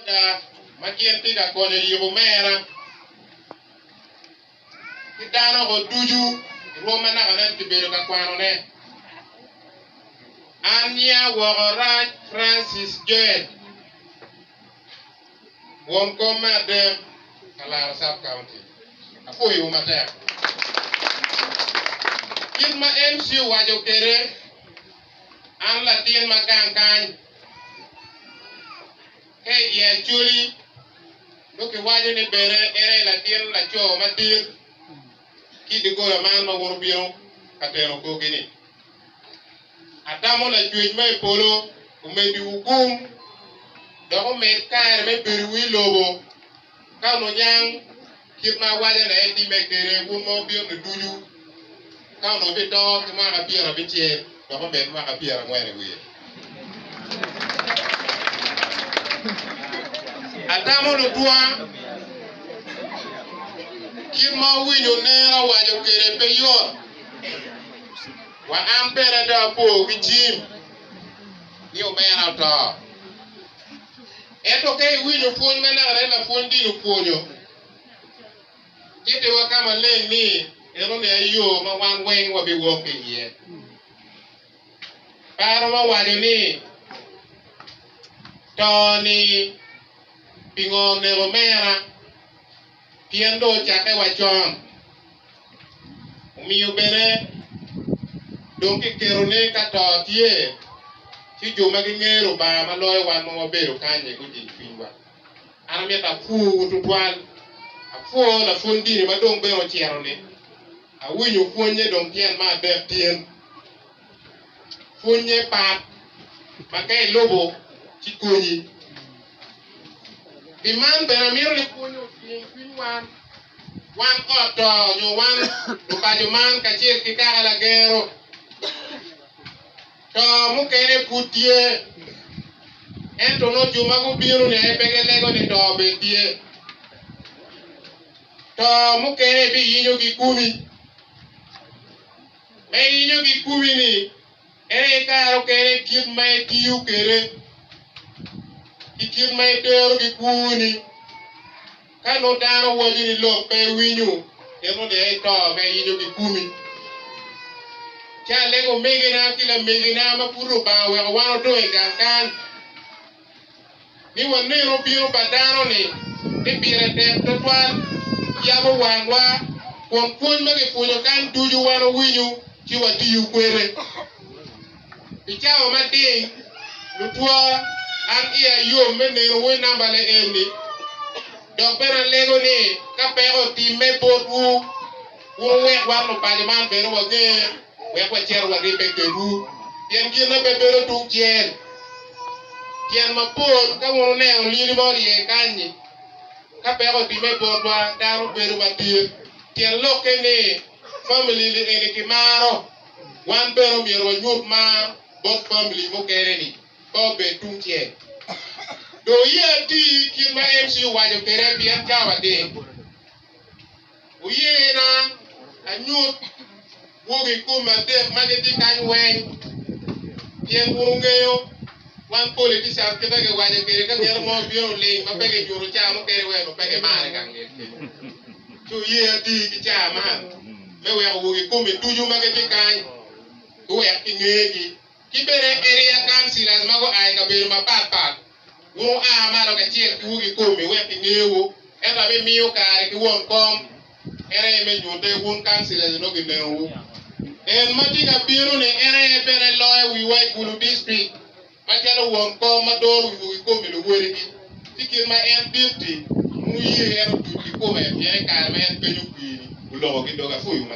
Ada ma gin tye ka konyo i yubo mera ki dano o ducu i rwom ma naka nen kibedo ka kwano ne. An nya woko Raj Francis Joel, won kom me adek ka laro Sub County. Apwoyo wu matek. Kit ma MC owaco kede, an latin ma gang kany. Ka i dye Acholi nongo kiwaco ni bene en aye latin laco madit ki i doggola man ma woto bino ka teno korgi ni, Atamo Lacwec ma i polo omeddiwu gum dok omed kare me bedowu i lobo. Ka wuniyang kit ma awaco ni etimme kwede, wun ma wubino-ni ducu, ka onongo bito ki mwaka pyera abicel, dok omed mwaka pyera angwen i wiye. Atamo lutwa, kit ma wuwinyo nera waco kwede pe yot, wa an bene dong apo ki Jim ni omera oto. Ento ka iwinyo pwony ma naka en lapwony dini opwonyo, kitiwa ka maleng ni en omiya yo ma wan weng wabiwok ki iye. Paro ma waco ni to-ni pingo oneko mera? Pien dong ocakke wa con, omiyo bene dong kiketo ni ka to tye, ci jo ma gingeyo Lubanga ma loyo wan ma wabedo kany-nyi gujing cwinywa. An amito apwowu tutwal. Apwoo lapwony dini ma dong bene ocito-ni. Awinyo pwonye dong tyen me adek tin. Pwonnye pat ma ka ilubo ci konyi. Pi man bene amito ni pwonye oting cwiny wan, wan ot to nyo wan lupaco man kacel ki kaka lagero. To mukene pud tye, ento nongo jo ma gubino-ni aye pe gilego ni to bene tye. To mukene ibiyinyogi kumi. Me yenyo gikumi ni, en aye kare okene kit ma itiyo kwede ki kit ma itero gikwoni. Ka nongo dano owaco ni lok pe iwinyo, en nongo dong ito me yenyo gikumi. Ci alego omegina ki lamegina ma pud Lubanga oweko wan odong i gang kan. ni waneno bino pa dano-ni, ni pire tek twatwal yabo wangwa kun pwony ma kipwonyo kany ducu wan owinyo ci watiyo kwede. Pi cawa mading lutwa, an iya yom me neno wi namba le eni, dok bene alego ni ka peko otimme botwu. Wuwek wan lubange man bene wager, wek wacito waribbe kedwu, pien gin aye pe bedo tung cel tyen mapol. Ka wun wuneno lyeli ma orye kany-nyi, ka peko otimme i botwa, dano bedo madit. Tyen lokke ni, famili-ni eni kimaro, wan bene omyero wanyut mar bot famili mukene-ni, ka obed tungcel. Dong iye ati kit ma MC owaco kwede, pien cawa dit. Oyena anyut gwogi kome adek ma gitye kany weng, pien wun wungeyo wan poli tye can kit ma giwaco kwede ka ngeto mo obino oling ma pe ginyuto caa mukene weko pe gimarre ka ngetgi. Ci wuye ati ki caa man me weko gwogi kome ducu ma gitye kany giwek ki ngegi. Ki bene Beria kan Cilas ma gua i kabedo mapat pat, wun wua malo kacel ki wegi komi wek gingewu, ento abimiyo kare ki won kom, en aye me nyute wun kan Cilas onongo ginengowu. En ma tye ka bino-ni en aye bene loyo wiwa i gulu distrik macalo won kom ma doro wi wegi komi luwodigi, ci kit ma en dit-ti, wun wuye en otuc ki kome, pien i kare ma en penyo kwiri, olokogi doge. Apwoyo ma.